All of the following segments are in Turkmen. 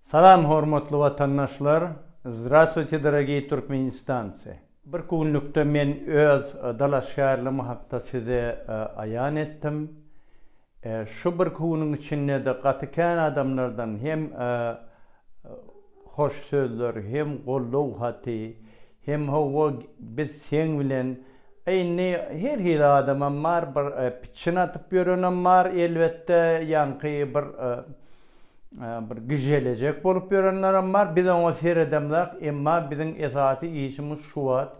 Salam hormatly watandaşlar! Zdravstvuyte dorogiy turkmenistanci! Birki günlükde men öz dalaşgärligim hakda size aýan etdim. Şu birki günüň içindede gaty kän adamlardan hem hoş sözler, hem goldaw haty, hem howwa biz seň bilen, a indi her hili adamam bar, bir pitçin atyp ýörenem bar elbetde, ýaňky bir bir gijelejek bolup ýörenlerem bar. Biz oňa seredemzok, emma biziň esasy işimiz şu wagt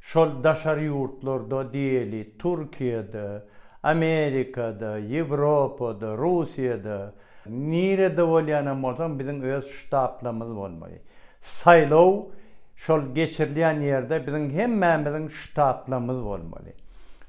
şol daşary ýurtlarda diýeli, Türkiýede, Amerikada, Ýewropada, Russiýada, nirede bolýan hem bolsaň biziň öz ştablarymyz bolmaly. Saýlaw şol geçirilýän ýerde biziň hemmämiziň ştablarymyz bolmaly.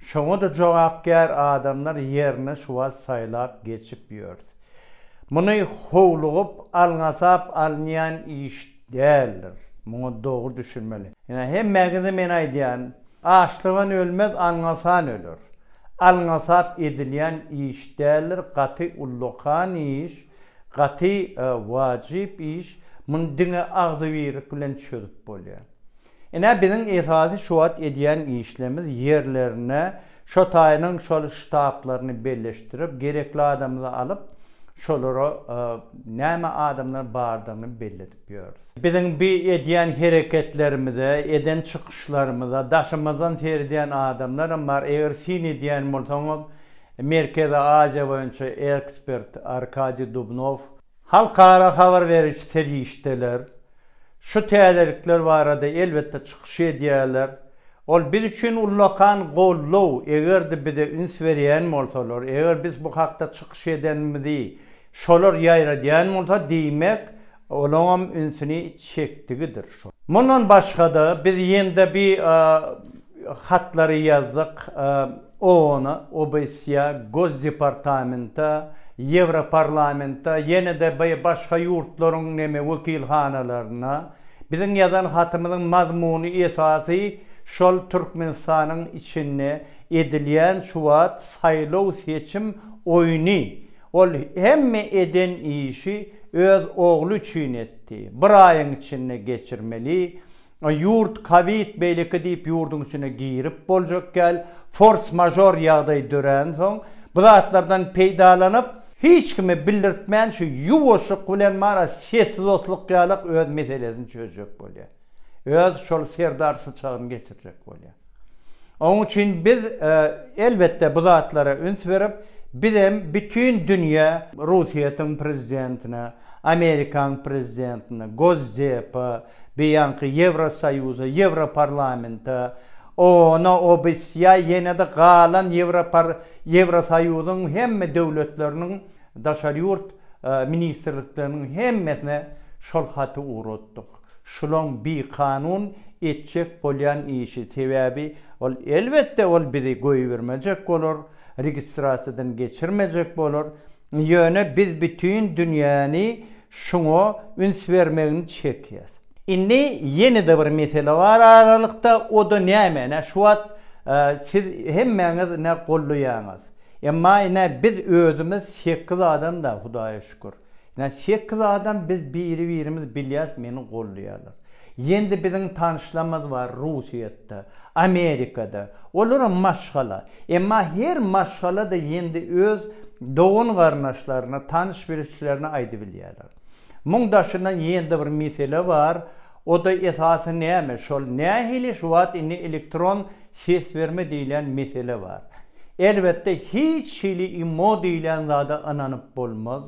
Şoňa-da jogapkär adamlar ýerine şu wagt saýlap geçip ýörs. Muny howlugyp, alňasap alynýan iş däldir. Muňa dogry düşünmeli. Ine, hemmäňize men aýdýan, açlygan ölmez, alňasan öler. Alňasap edilýän iş däldir, gaty ullakan iş, gaty wajyp iş, muny diňe agzybirlik bilen çözüp bolýar. Ine biziň esasy şu wagt edýän işlemiz ýerlerine şo taýynyň şol ştablaryny belleşdirip gerekli adamly alyp şolara näme adamlar bardygyny belledip ýörüs. Biziň bi edýän hereketlerimize, eden çykyşlarymyza daşymyzdan seredýän adamlaram bar, eger syn edýän bolsaňyz Merkezi Aziýa boýunça ekspert Arkadiý Dubnow, Halkara habar beriji serişdeler şu täzelikler barada elbetde çykyş edýärler. Ol biz üçin ullakan goldaw, eger-de bize üns berýän bolsalar, eger biz bu hakda çykyş edenimizi şolar ýaýradýan bolsa, diýmek, olaňam ünsüni çekdigidir. Mundan başga-da, biz ýende bi hatlary ýazdyk OON-a, OBSE-a, Gosdepartamenta, Ýewroparlamenta, ýene-de bi başga ýurtlaryň neme wekilhanalaryna. Biziň ýazan hatymyzyň mazmuny esasy şol Türkmenistanyň içinde edilýän şu wagt saýlaw-seçim oýny, Ol hemme eden işi öz ogly üçin etdi. Bir aýyň içinde geçirmeli. Ýurt kowid beýleki diýip ýurduň içine girip boljak däl. Fors mažor ýagdaý döränsoň bu zatlardan peýdalanyp, hiç kime bildirtmän şu ýuwaşlyk bilen mara sessiz otlukýalyk öz meselesini çözjek bolýar. öz şol serdar syçagyny geçirjek bolýar. Onuň üçin biz, elbetde, bu zatlara üns berip, bizem bütin dünýä, Russiýetiň prezidentine, Amerikaň prezidentine, Gosdepa, beýanky Ýewrosoýuza, Ýewroparlamenta, OON-a, OBSE-ýa, ýene-de galan Ýewropar, Ýewrosoýuzyň hemme döwletleriniň daşary ýurt ministrlikleriniň hemmesine şol haty ugratdyk. Şulaň bikanun etjek bolýan işi, sebäbi ol elbetde ol bizi goýbermejek bolar, registrasiýadan geçirmejek bolar, ýöne biz bütin dünýäni şuňa üns bermegini çekýäs. Indi ýene-de bir mesele bar aralykda, o-da näme, ine şu wagt siz hemmäňiz ine gollaýaňyz, emma ine biz özümiz sekiz adam-da Hudaýa şükür. Ine sekiz adam biz biri birimiz bilýäs meni goldaýarlar. Ýendi biziň tanyşlamyz bar Russiýetde, Amerikada. Olaram maşgala. Emma her maşgalada ýendi öz dogan garyndaşlaryna, tanyş bilişlerine aýdybilýärler. Muň daşyndan ýendi bir mesele bar. Oda esasy näme şol nähili şu wagt indi elektron ses berme diýlen mesele bar. Elbetde hiç hili imo diýlen zada ynanyp bolmaz.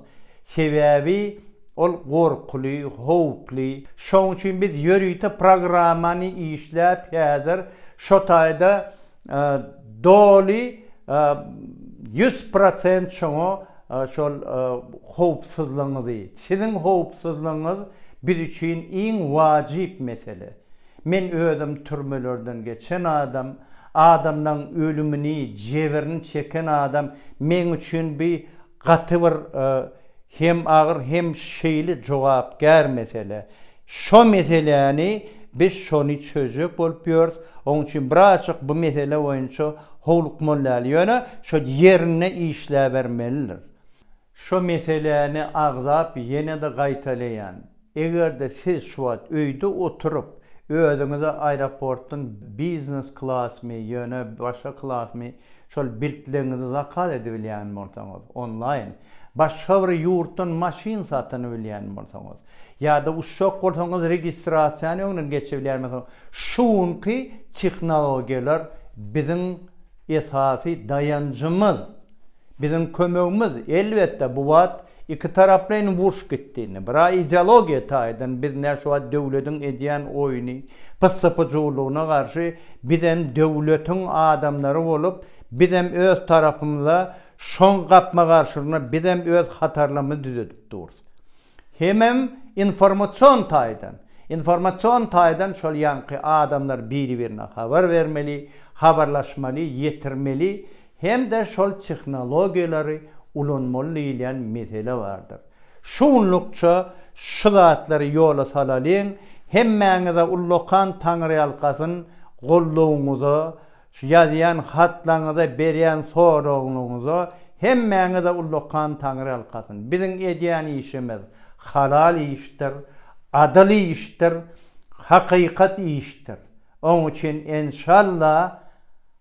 Sebäbi ol gorkuly, howply. Şoň üçin biz ýörite programmany işläp häzir şo taýda Doly ýüz prosent şoňa şol howpsuzlygyňyzy, siziň howpsuzlygyňyz biz üçin iň wajyp mesele. Men özüm türmelerden geçen adam, adamlaryň ölümini, jebirini çeken adam meň üçin bi Gaty bir hem agyr hem şeýle jogapkär mesele. Şo meseläni biz şony çözjek bolup ýörüs. Oň üçin birazjyk bu mesele boýunça howlukmalyal. Ýöne şo ýerinde işläbermelidir. Şo meseläni agzap ýene-de gaýtalaýan. Eger-de siz şu wagt öýde oturyp, özüňize aeroportdan biznes klasmy, ýöne başga klasmy şol biltleňizi zakaz edibilýän bolsaňyz, onlaýn, başga bir ýurtdan maşyn satyn bilýän bolsaňyz, ýa-da uçjak bolsaňyz registrasiýany öňden geçibilýän bolsaňyz, şu günki tehnologiýalar biziň esasy daýanjymyz, biziň kömegimiz. Elbetde, bu wagt Ikitaraplaýyn uruş gitdiginden, biraz ideologiýa taýdan biz nä şu wagt döwletiň edýän oýny, pyssy-pyjuwlygyna garşy bizem döwletiň adamlary bolup, bizem öz tarapymyza şoň gapma-garşylygyna bizem öz hatarlarymyzy düzedip durus. Hemem informasion taýdan, informasion taýdan şol ýaňky adamlar biri-birine habar bermeli, habarlaşmaly, ýetirmeli, hem-de şol tehnologiýalary ulanmaly diýilýän mesele bardyr. Şugunlukça şu zatlary ýola salalyň, hemmäňize ullakan taňryýalkasyn, goldawyňyza, ýazýan hatlaryňyza, berýän soragyňyza hemmäňize ullakan taňryýalkasyn. Biziň edýän işimiz halal işdir, adyl işdir, hakykat işdir. Oň üçin enşalla.